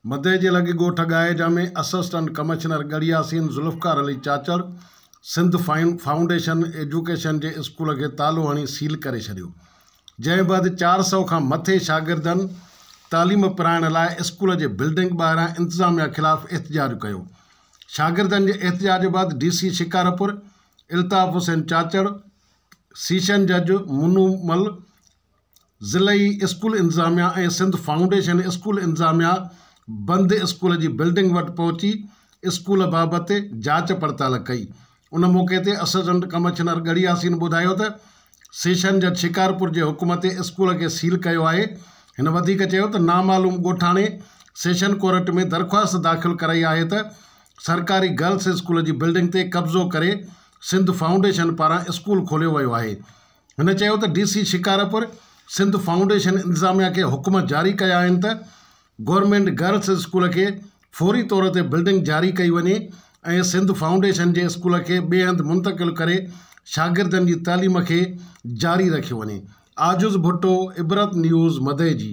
مدئي جي لڳ ڳوٺ ڳائي جا ۾ assistant commissioner Garhi Yasin Zulfiqar Ali Chachar Sindh foundation education جي اسڪول کي تالو هڻي سيل ڪري ڇڏيو جنهن بعد چار سؤ کان مٿي شاگردن تعليم پرائڻ لاء اسڪول جي بلڊنگ ٻاهران انتظاميا خلاف احتجاج ڪيو شاگردن جي احتجاج بعد D C Shikarpur Altaf Hussain Chachar session جج منو مل ضلعي اسڪول انتظاميا ۽ سنڌ فائونڊيشن اسڪول انتظاميا بند اسڪول جي بلڊنگ وٽ پهچي اسڪول بابت جاچ پڙتال ڪئي ان موقعي تي اسسٽنٽ ڪمشنر ڳڙهي ياسين ٻڌايو ته سيشن جج شڪارپور جي حڪم تي اسڪول کي سيل ڪيو آهي هن وڌيڪ چيو ته نامعلوم ڳوٺاڻي سيشن ڪورٽ ۾ درخواست داخل ڪرائي آهي ته سرڪاري گرلس اسڪول جي بلڊنگ تي قبضو ڪري سنڌ فائونڊيشن پاران اسڪول کوليو ويو آهي هن چيو ته D C Shikarpur Sindh foundation انتظاميا کي حڪم جاري ڪيا آهن ته گورنمينٽ گرلس اسڪول کي فوري طور تي بلڊنگ جاري ڪئي وڃي ۽ سنڌ فائونڊيشن جي اسڪول کي ٻئي هنڌ منتقل ڪري شاگردن جي تعليم کي جاري رکيو وڃي عاجز ڀٽو عبرت نيوز مدئي جي.